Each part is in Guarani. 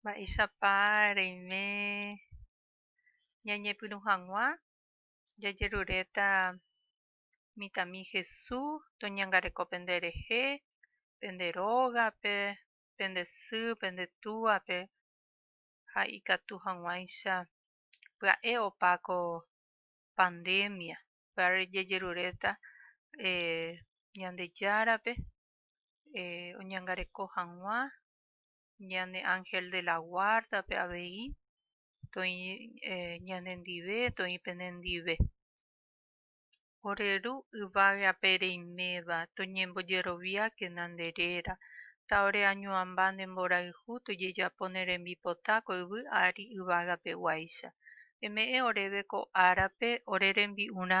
Mba'éichapa reime ñañepyrũ hag̃ua jajeruréta mitãmi Jesús toñangareko pende rehe, pende rógape, pende sy, pende túape ha ikatu hag̃uáicha pya'e opa ko pandémia. Upévare jajeruréta Ñandejárape oñangareko hag̃ua ñane ángel de la guarda-pe avei toĩ ñanendive, toĩ pene ndive. Ore Ru yvága ape reiméva, toñembojeroviákena nde réra, tá'ore añuãmba nde mborayhu tojejapo ne rembipota ko yvy ári yvágapeguáicha. Eme'ẽ oréve ko árape ore rembi'urã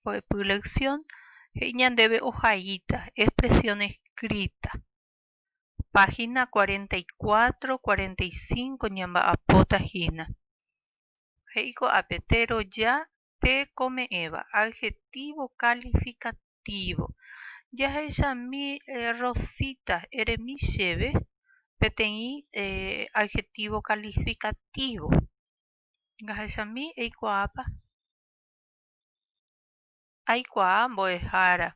mbo'epy lección he'i ñandéve ohaíta expresión escrita, página 44, 45 ñamba'apóta hína. He'i ko'ápe, teroja tekome'ẽva adjetivo calificativo. Jahechami Rosita eremi chéve peteĩ adjetivo calificativo. Jahechami eikuaápa. Aikuaa mbo'ehára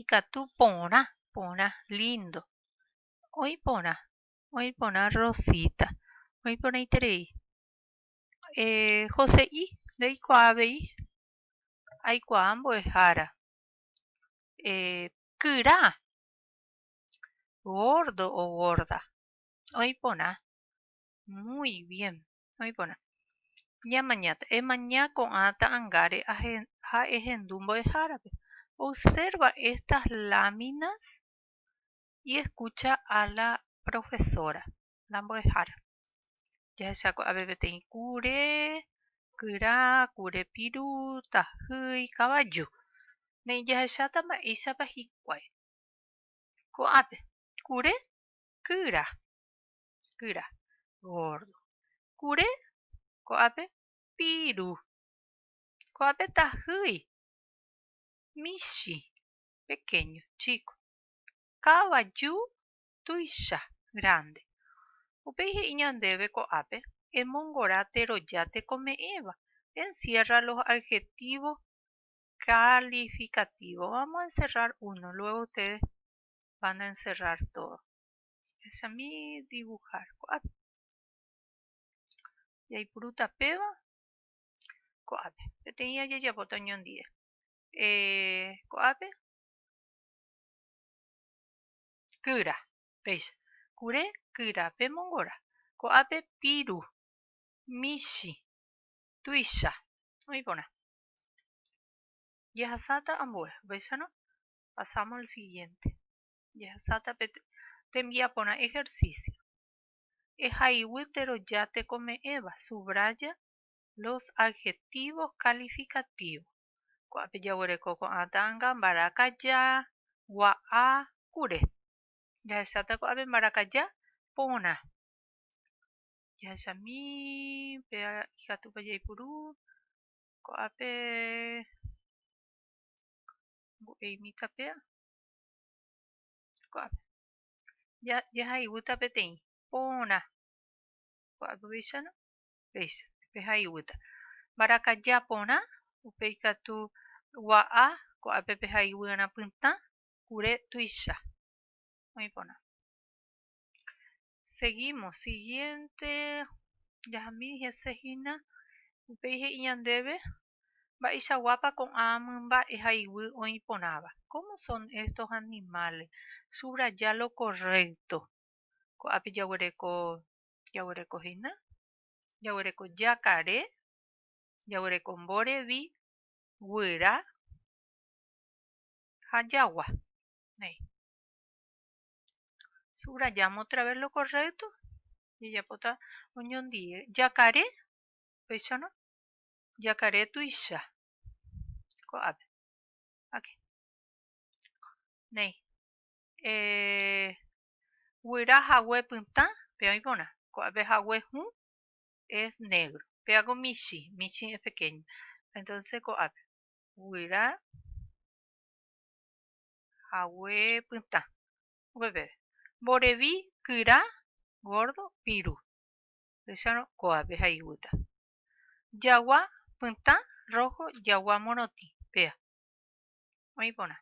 ikatu porã, porã lindo. Oĩ porã, oĩ porã rosita, oĩ porãiterei. Eh Jose'i, ndeikuaa avei, aikuaa mbo'ehára. Eh kyra, gordo o gorda, oĩ porã, muy bien, oĩ porã. Ñamañáta, emaña ko'ã ta'angáre ha ehendu mbo'ehárape. Observa estas láminas y escucha a la profesora, la mbo'ehára. Jahecha ko'ápe peteĩ kure, kyra, kure piru, tahýi, kavaju. Ne'ĩ jahecháta mba'éichapa hikuái. Ko'ápe, kure, kyra. kyra, gordo. Kure, ko'ápe piru. Ko'ápe tahýi, michĩ, pequeño, chico. Kavaju, tuicha, grande. Upéi he'i ñandéve ko'ápe, emongora teroja tekome'ẽva, encierra los adjetivos calificativos. Vamos a encerrar uno, luego ustedes van a encerrar todo. Ahechami dibujar ko'ápe. Jaipurúta péva ko'ápe. Peteĩ ajejapóta oñondive. Eh, ko'ápe kyra, péicha. Kure kyra pe mongora. Ko'ápe piru, michi, tuicha. Oĩ porã. Jehasáta ambue, upéicharõ pasamos al siguiente. Jahesáta pe tembiaporã ejercicio. Ehaiguy teroja tekome'ẽva, subraya los adjetivos calificativos. Ko'ápe jaguereko ko'ã ta'anga mbarakaja, gua'a, kure. Jahesáta ko'ápe mbarakaja porã. Jahechami pe ikatúpa jaipuru ko'ápe mbo'eimíta péa. Ko'ápe. Ja, jahaiguýta peteĩ porã. Ko'ápe upéicharõ? Péicha, pehaiguýta. Mbarakaja porã, upe ikatu gua'a, ko'ápe pehaiguýrã pytã, kure tuicha. Oĩ porã. seguímos. Siguiente jahami hese hína, upéi he'i ñandéve mba'eichaguápa ko'ã mymba'e ha iguy oĩ porãva. Cómo son estos animales? Subraya lo correcto. Ko'ápe jaguereko, jaguereko hína, jaguereko jakare, jaguereko mborevi, guyra ha jagua. Néi. Subrayáma otra vez lo correcto. Jajapóta oñondive. Jakare, péichano. Jakare tuicha. Ko'ápe. Ok. Néi. Eh, guyra hague pytã, pe oĩporã. Ko'ápe hague hũ es negro. Péako michi, michi es pequeño. Entonces ko'ápe. Guyra hague pytã. Upépe, mborevi, kyra, gordo, piru. Upéicharõ, kóape ha iguýta. Jagua, pytã, rojo, jagua morotĩ, péa. Oĩ porã.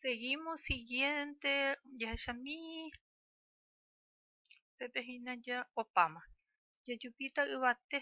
Seguimos siguiente, jahechami. Upépe hína ja opáma. Jajupíta yvate.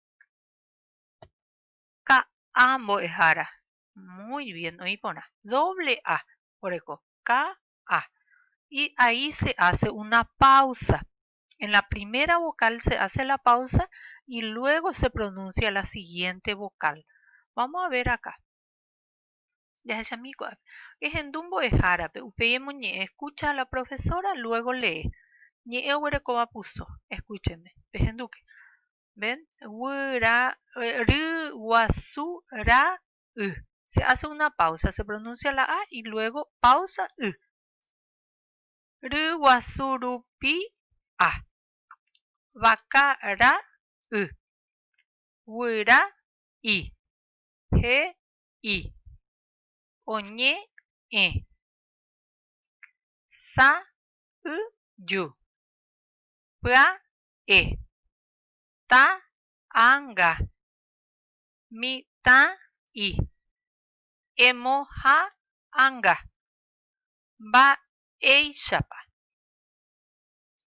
Ka'a mbo'ehára, muy bien, oĩ porã. Doble a oreko, ka'a. Y ahí se hace una pausa. En la primera vocal se hace la pausa y luego se pronuncia la siguiente vocal. Vamos a ver acá. Jahechamí ko'ápe. Ehendu mbo'ehárape, upéi emoñe'ẽ escucha a la profesora, luego lee. Ñe'ẽ oguerekóva puso. Escúcheme. Pehendúke. Ven, Guira, Ryguasu ra y. Se hace una pausa, se pronuncia la A y luego pausa y. Ryguasu rupi A. Vaca ra y. Guira y. He y. Oñe e. Sa y yu. Pya e. Ta a nga. Mi ta i. Emo ha a nga. Mba eichapa.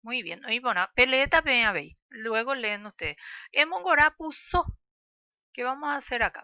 Muy bien. Oĩ porã. Pe leeta peẽ avei. Luego leen ustedes. Emo ngora puso. Ke vamos a hacer acá?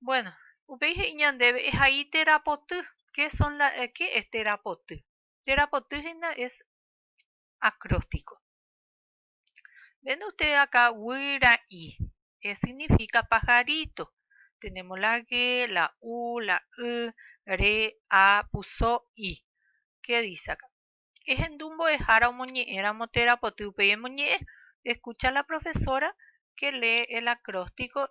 Bueno, upéi he'i ñandéve, ehai térã poty. Qué son la, qué es térã poty? Térã poty hína es acróstico. Ven usted acá, guýra'i, es significa pajarito. Tenemos la gue, la u, la y, re, a, puso i. Qué dice acá? Ehendu mbo'ehára omoñe'ẽramo térã poty, upéi emoñe'ẽ, escucha la profesora que lee el acróstico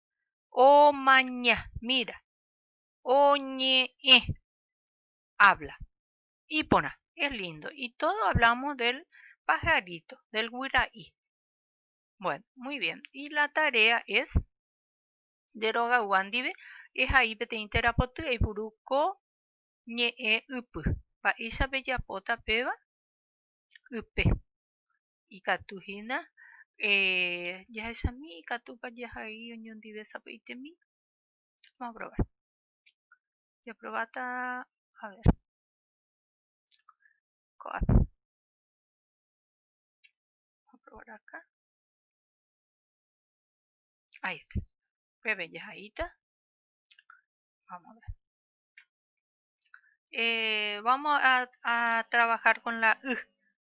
omaña, mira, oñe'ẽ, habla. Iporã, es lindo. Y todo hablamos del pajarito, del guira'i. Bueno, muy bien. Y la tarea es de roga guandive y ahí pete intera pote y buruco ñe e upu. Paisa bella pota peba upe. ikatu hína jahechami ikatúpa jahai oñondive sapy'aitemi vamos a probar japrováta a ver ko'ápe vamos a probar acá ahí está peve jahaíta vamos a ver eh, vamos a, a trabajar con la y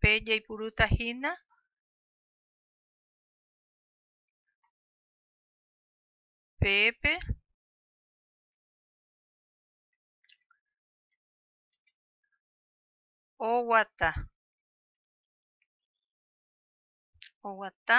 Pe jaipurúta hína peépe oguata oguata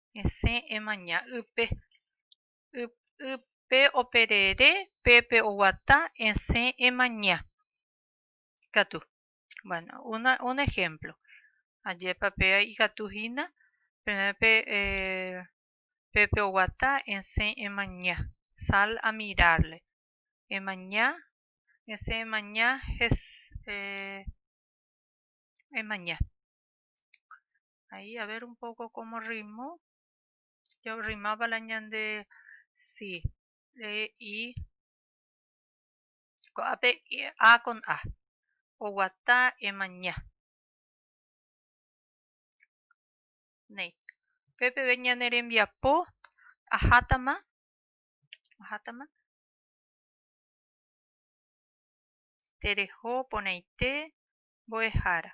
Esẽ emaña ýpe. Ypýpe operere, pépe oguata, esẽ emaña. Katu. Bueno, una, un ejemplo. Ajépa pe ikatu hína, peẽpe eh, pépe oguata, esẽ emaña. Sal a mirarle. Emaña, esẽ emaña, hes, eh, emaña. Ahí, a ver un poco cómo rimó. Yo rimaba la ñande. Sí. E, I. Coape, e, A con A. O guata, e maña. Ney. Pepe ve ñande rembiapo. Ajátama. Ajátama. Terejo, poneite. Boejara.